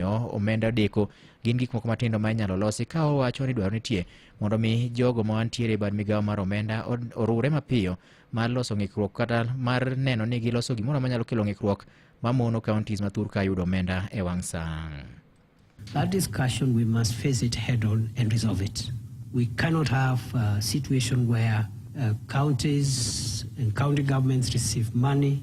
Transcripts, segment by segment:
omiyo omenda odeko gin gik moko matindo ma inyalo losi ka owacho ni dwaro nitie mondo mi jogo ma wantiere e bad migawo mar omenda od- oriwre mapiyo mar loso ng'ikruok kata mar neno ni giloso gimoro manyalo kelo ng'ikruok mamono counties ma thurka yudo omenda e wang' sang'. That discussion, we must face it head on and resolve it. We cannot have a situation where uh, counties and county governments receive money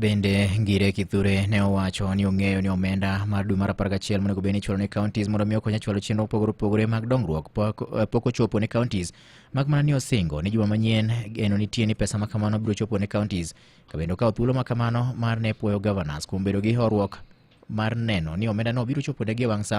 Bende Ngire Kithure ne owacho ni ong'eyo ni omenda mar dwe mar 11 monego bed ni ichwalo ne counties mondo mi okony e chwalo chenro mopogore opogore mag dongruok pok eh, pok ochopo ne counties mak mana ni osingo ni juma manyien geno nitie ni pesa ma kamano biro chopo ne counties ka bende okawo thuolo ma kamano mar ne puoyo governors kuom bedo gi horuok mar neno ni omendano biro choponegi e wang' sa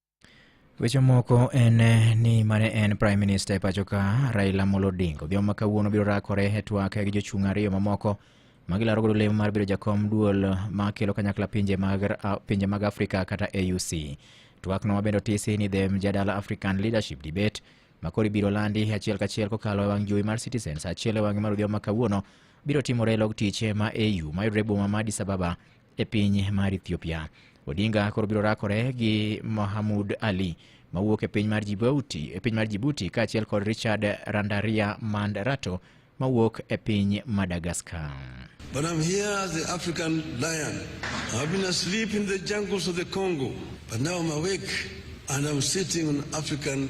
Weche moko en eh, ni mane en Prime Minister e pacho ka Raila Amolo Odinga odhiambo ma kawuono biro rakore e twak gi jochung' ariyo mamoko ma gilaro godo lemo mar bedo jakom duol ma kelo kanyakla pinje mag, a- pinje mag Afrika kata AUC. Twakno ma bende otisi ni The Mjadala African Leadership Debate ma koro ibiro landi achiel kachiel kokalo e wang' jowi mar Citizen sa achiel e wang'e mar odhiambo ma kawuono biro timore e log tich ma AU mayudore e boma ma Addis Ababa e piny mar Ethiopia. Odinga koro biro rakore gi Mohamud Ali mawuok e piny mar Djibouti, e piny mar Djibouti kaachiel kod Richard Randaria Mandarato mawuok e piny Madagascar. But I'm here as the African lion. I've been asleep in the jungles of the Congo, but now I'm awake and I'm sitting on African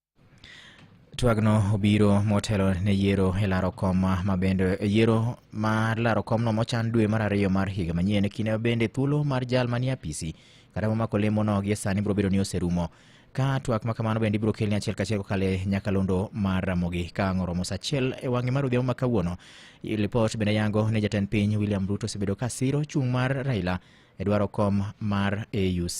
twagno obiro motelo ne yiero e laro kom ma bende yiero mar laro komno mochan dwe mar ariyo mar higa manyien kinde bende thuolo mar jal manie apisi kata momako lemono gie sani biro bedo ni oserumo ka twak ma kamano bende ibiro kelni achiel kachiel kokale nyakalondo mar ramogi ka ang' oromo sa achiel e wang'e mar odhiambo ma kawuono lipot bende yango ni jatend piny william ruto osebedo ka siro chung' mar raila e dwaro kom mar auc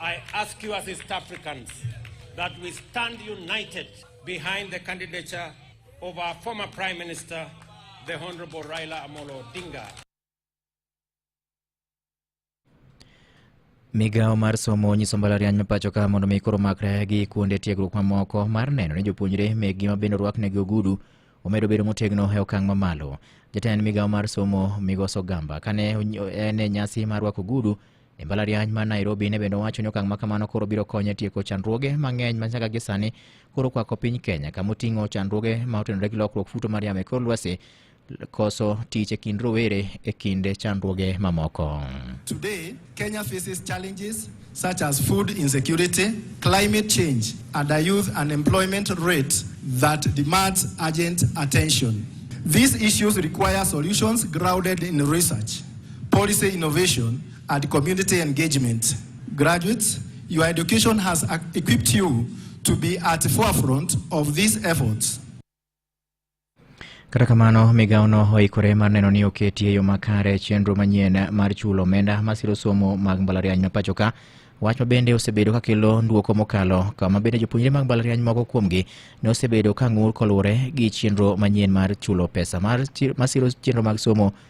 I ask you as East Africans that we stand united behind the candidature of our former Prime Minister, the Honorable Raila Amolo Odinga. Migawo mar somo onyiso mbalariany ma pacho ka mondo mi koro makre gi kuonde tiegruok mamoko mar neno ni jopuonjre mekgi ma bende orwaknegi ogudu omedo bedo motegno e okang' mamalo. Jatend migawo mar somo Migoso Gamba kane en e nyasi mar rwako ogudu E mbalariany ma Nairobi ne bende owacho ni okang' ma kamano koro biro konye tieko chandruoge mang'eny ma nyaka gi sani koro kwako piny Kenya kama oting'o chandruoge ma otenore gi lokruok futo mar yamo e kor lwasi koso tich e kind rowere e kinde chandruoge mamoko. Today, Kenya faces challenges such as food insecurity, climate change, and a youth unemployment rate that demands urgent attention. These issues require solutions grounded in research. Policy innovation and community engagement. Graduates, your education has equipped you to be at the forefront of these efforts. Kata kamano, migawono oikore mar neno ni oketi e yo makare chenro manyien mar chulo omenda masiro somo mag mbalariany ma pachoka wach ma bende osebedo ka kelo ndwoko mokalo kama bende jopuonjre mag mbalariany moko kuomgi ne osebedo ka ng'ur koluwore gi chenro manyien mar chulo pesa masiro chenro mag somo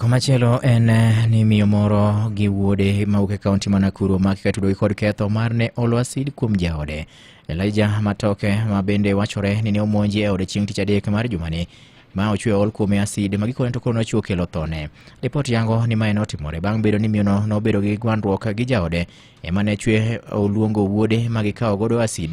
Komachielo en eh, ni miyo moro gi wuode mawuok e kaunti ma Nakuru omaki ka tudogi kod ketho mar ne olo asid kuom jaode. Elijah Matoke ma bende wachore ni ne omonji e ode chieng' tich adek mar jumani ma ochwe ol kuome asid ma gikone to koro nochiwo kelo thone. Ripot yango ni mae notimore bang' bedo ni miyono nobedo gi gwandruok gi jaode ema ne chwe oluongo wuode ma gikawo godo asid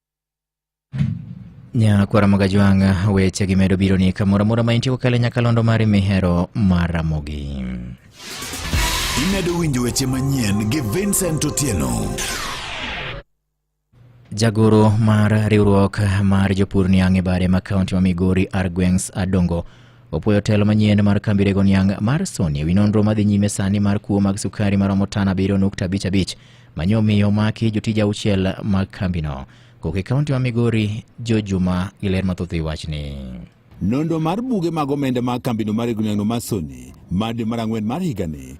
nyakwara mogaji wanga weche gi medo biro ni kamoro amora ma intie kokalo e nyakalondo mari mihero mar ramogi imedo winjo weche manyien gi vincent otieno jagoro mar riwruok mar jopur niang' e bare ma kaunti ma migori argwengs adongo opwoyo telo manyien mar kambi rego niang' mar soni e wi nonro madhi nyime sani mar kuo mag sukari maromo tan abiriyo nukta abich abich Manyo omiyo omaki jotij auchiel mag kambino. Kok e kaunti ma Migori, Jo Juma gi ler mathoth e wachni. Nonro mar buge mag omenda mag kambino mar Egunagno Masoni mar dwe mar ang'wen mar higani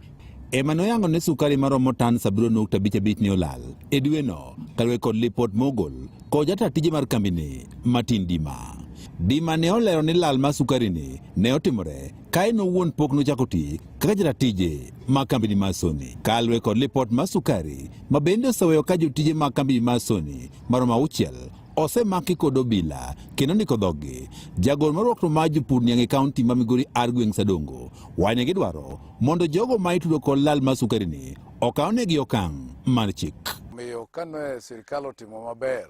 ema noyango ni sukari maromo tan 7.55 ne olal e dweno kaluwore kod lipot mogol kod jataa tije mar kambini Martin Dima. Dima ne olero ni lal mar sukarini ne otimore kae en owuon pok nochako ti kaka jaratije ma kambini mar Sony kalwe kod lipot mar sukari ma bende oseweyo ka jotije ma kambini mar Sony maromo auchiel osemaki kod obila kendo ndiko dhoggi jagol marwakno mar jopur niang' e kaunti ma migori Argueng' Sadongo wanye gidwaro mondo jogo ma itudo kod lal mar sukarini okawnegi okang' mar chik. Omiyo kane sirkal otimo maber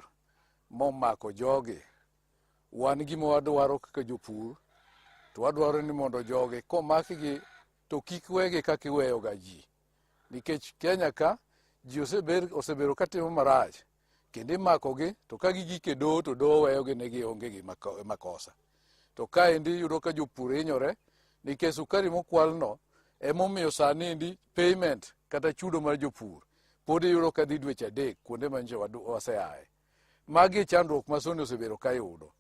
momako jogi Wan gima wadwaro kaka jopur to wadwaro ni mondo jogi komakgi to kik wegi kaka iweyoga ji nikech Kenya ka ji osebedo katimo marach kendo imakogi to ka gigik e doho to doho weyogi ne gionge gi makosa to kaendi yudo ka jopur hinyore nikech sukari mokwalno emomiyo sani endi payment kata chudo mar jopur pod iyudo ka dhi dweche adek kuonde manyiso waseaye Magi e chandruok ma Soni osebedo ka yudo.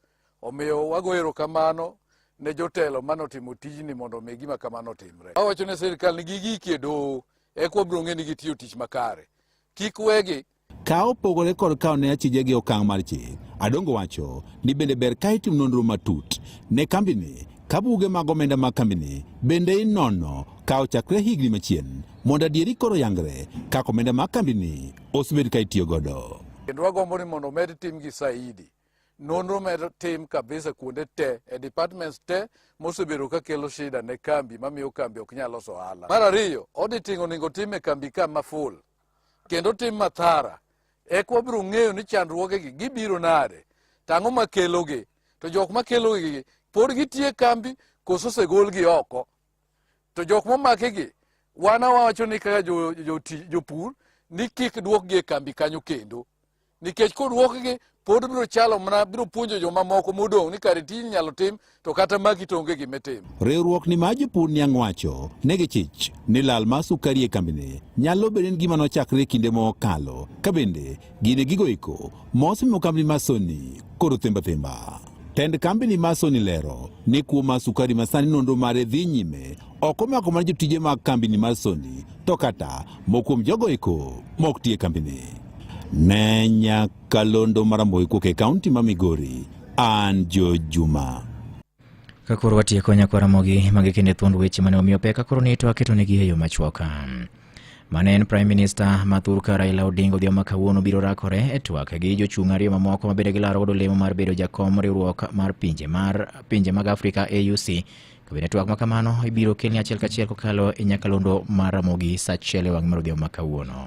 Omiyo wago erokamano ne jotelo mane otimo tijni mondo omi gima kamano otimre. Awacho ne sirkal ni gigiki e doho eka wabiro ng'e ni gitiyo tich makare. Kik wegi Ka opogore kod kawo ne achije gi okang' mar chik, Adongo wacho ni bende ber ka itim nonro matut ne kambini ka buge mag omenda mag kambini bende inono ka ochakre higni machien mondo adieri koro yangre kaka omenda mag kambini osebed ka itiyo godo. Kendo wagombo ni mondo omed timgi saidi. Nonro med tim kabisa kuonde te e departments te mosebedo ka kelo shida ne kambi mamiyo kambi ok nyal loso ohala. Mar ariyo, auditing onego tim e kambi ka ma full kendo tim mathara e kwa biro ng'eyo ni chandruogegi gibiro nade tang'o makelogi to jok makelogi pod gitie kambi koso osegolgi oko to jok momakigi wan awacho ni kaka jopur ni kik duokgi e kambi kanyo kendo nikech koduokgi pod biro chalo mana biro puonjo jomamoko modong' ni kare tij nyalo tim to kata magi to onge gima tim riwruok ni maji pur niang' wacho ne gichich ni lal ma sukari e kambini nyalo bedo ni gima nochakre kinde mokalo ka bende Gine gigo eko mosimo kambi ma Sony koro themba themba. Tend kambi ni ma Sony lero ni kuo ma sukari ma sani nonro mare dhi nyime ok omako mana jotije mag kambi ni ma Sony to kata mokuom jogo eko mok tie kambi ni. Ne nyakalondo maramboi kuok e kaunti ma Migori, an Joe Juma. Ka koro watieko nyakwara mogi magi kende thuond weche mane omiyo peka koro ni to aketo negi e yo machwoka. Mane en Prime Minister ma thurka Raila Odinga odhiambo kawuono biro rakore e twak gi jochung' ariyo mamoko mabende gilaro godo lemo mar bedo jakom riwruok mar pinje mar pinje mag Afrika AUC. Kabende twak ma kamano ibiro kelni achiel kachiel kokalo e nyakalondo mar Ramogi sa achiel e wang' mar odhiambo ma kawuono.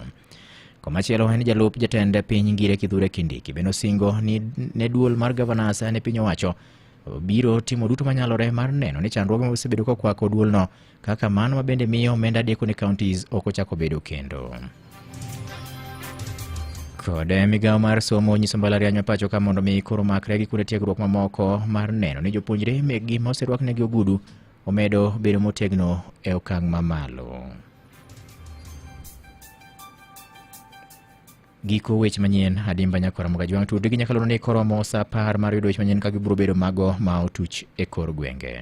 Komachielo en jalup jatend piny Ngire Kithure Kindiki bende osingo ni ne duol mar gavanas ne piny owacho biro timo duto manyalore mar neno ni chandruoge ma osebedo kokwako duolno kaka mano mabende miyo omenda deko ne counties ok ochako bedo kendo kod migawo mar somo onyiso mbalariany mapacho ka mondo mi koro makre gi kuonde tiegruok mamoko mar neno ni jopuonjre mekgi ma oserwaknegi ogudu omedo bedo motegno e okang' mamalo. Giko weche manyien adimba nyakora moga jwang' tude gi nyakalono ni koromo sa apar mar yudo weche manyien ka gibiro bedo mago ma otuch e kor gwenge.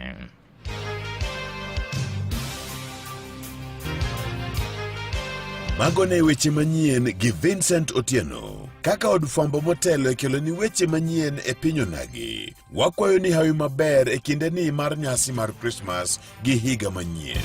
Mago ne weche manyien gi Vincent Otieno. Kaka od fwambo motelo e kelo ni weche manyien e piny onagi, wakwayo ni hawi maber e kinde ni mar nyasi mar Krismas gi higa manyien.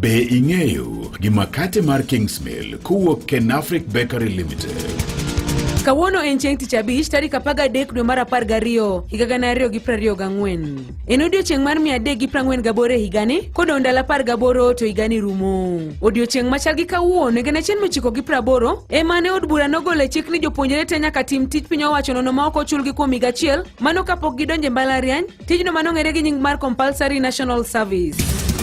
Be ing'eyo gi makate mar Kingsmill kowuok Ken Afric Bakery Limited? Kawuono en chieng' tich abich tarik apaga adek dwe mar apar gariyo higa gana ariyo gi prariyo gang'wen. En odiochieng' mar mia adek gi prang'wen gaboro e higani kodong' ndalo apar gaboro to higani rumo. Odiochieng' machal gi kawuono e gana achiel mochiko gi praboro ema ne od bura nogolo e chik ni jopuonjre te nyaka tim tij piny owacho nono ma ok ochulgi kuom higa achiel mano kapok gidonje mbalariany Tijno mano ng'ere gi nying mar Compulsory National Service.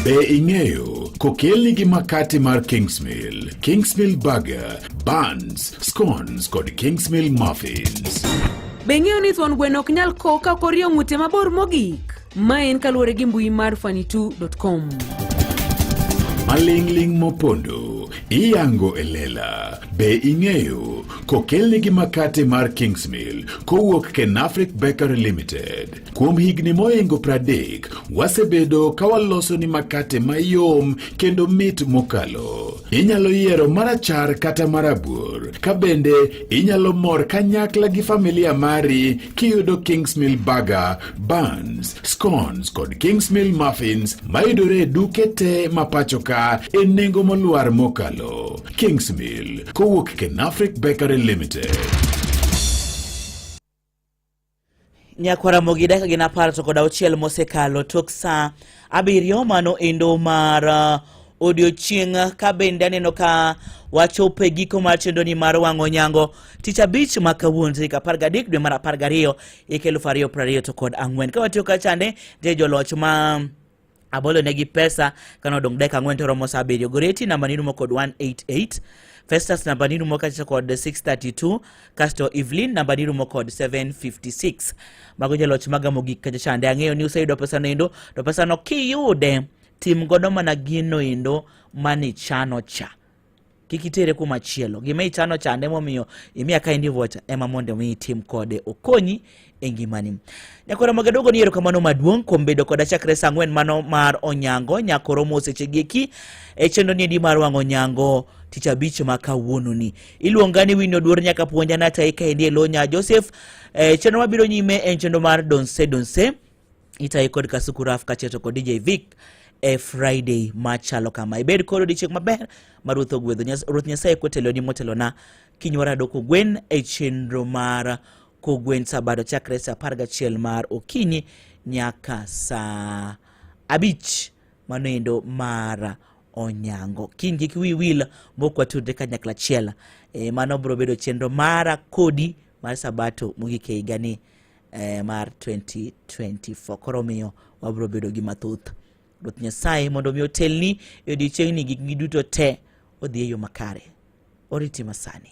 Be ing'eyo kokelni gi makate mar Kingsmill, Kingsmill Burger, Buns, Scones kod Kingsmill Muffins. Be ing'eyo ni thuon gweno ok nyal ko ka orie ng'ute mabor mogik? Ma en kaluwore gi mbui mar fanitu.com. Maling'ling' mopondo iyango e lela. Be ing'eyo kokelnigi makate mar Kingsmill kowuok Kenafric Bakery Limited. Kuom higni moingo pradek, wasebedo ka waloso ni makate mayom kendo mit mokalo. Inyalo yiero marachar kata marabuor, ka bende inyalo mor kanyakla gi familia mari kiyudo Kingsmill Burger, Buns, Scones kod Kingsmill Muffins mayudore e duke te mapachoka e nengo moluar mokalo. Kingsmill kowuok Kenafric Bakery Limited. nyakwaramogi dakika gin apar to kod auchiel mosekalo tok saa abiriyo mano endo mar uh, odiochieng' ka bende aneno ka wachopo e giko mar chenroni mar wang'o nyango tich abich ma kawuono tarik apar gadek dwe mar apar gariyo hik elufu ariyo prariyo to kod ang'wen ka watiyo kachande je joloch ma abolo negi pesa kane odong' dakika ang'wen to romo saa abiriyo goreti namba ni rumo kod 188 festus namba ni rumo kacha kod 632 kasto evelyn namba ni rumo kod 756 mago jaloch maga mogik kacha chande ang'eyo ni useyudo pesano endo to pesano kiyude tim godo mana gino endo manichano cha kik itere kuma chielo gima ichano chande momiyo imiya ka endi vocha ema mondo mi itim kode okonyi e ngimani nyakoro magadogo ni erokamano maduong' kuom bedo koda chakre sa ang'wen mano mar onyango nyakoro mosechegi eki e chenro ni endi mar wang' onyango tich abich ma kawuononi iluonga ni wino duor nyaka puonja nataika endi e lo nya joseph e, chenro mabiro nyime en chenro mar donse donse Itayi kod Kasuku Raf Kacheto kod DJ Vic e Friday machalo kama. Ibed kod odiechieng' maber ma Ruoth ogwedho. Ruoth Nyasaye koteloni motelona kinywara dok ogwen e chenro mar kogwen sabato chakre sa apar gachiel mar okinyi nyaka saa abich mano endo mar onyango kiny kik wi wil mok watudre kanyakla achiel e, mano biro bedo chenro mara kodi mar sabato mogik e higani eh, mar 2024 koro omiyo wabiro bedo gi mathoth ruoth nyasaye mondo mi otelni e odiechiengni gik gi duto te odhi e yo makare oriti masani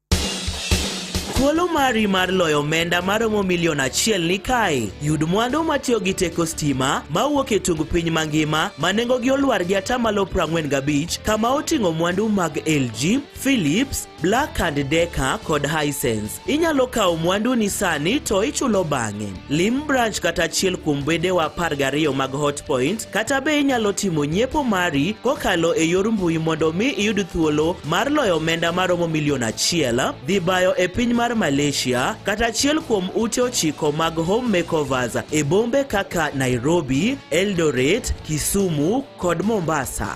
Thuolo mari mar loyo omenda maromo milion achiel ni kae. Yud mwandu matiyo gi teko stima mawuok e tung piny mangima ma nengogi olwar gi atamalo 45 kama oting'o mwandu mag LG, Philips, Black and Decker kod Hisense. Inyalo kawo mwanduni sani to ichulo bang'e. Lim branch kata achiel kuom wedewa apar gariyo mag Hotpoint kata be inyalo timo nyiepo mari kokalo e yor mbui mondo mi iyud thuolo mar loyo omenda maromo milion achiel dhi bayo e piny mar Malaysia kata achiel kuom ute ochiko mag home makeovers e bombe kaka Nairobi, Eldoret, Kisumu kod Mombasa.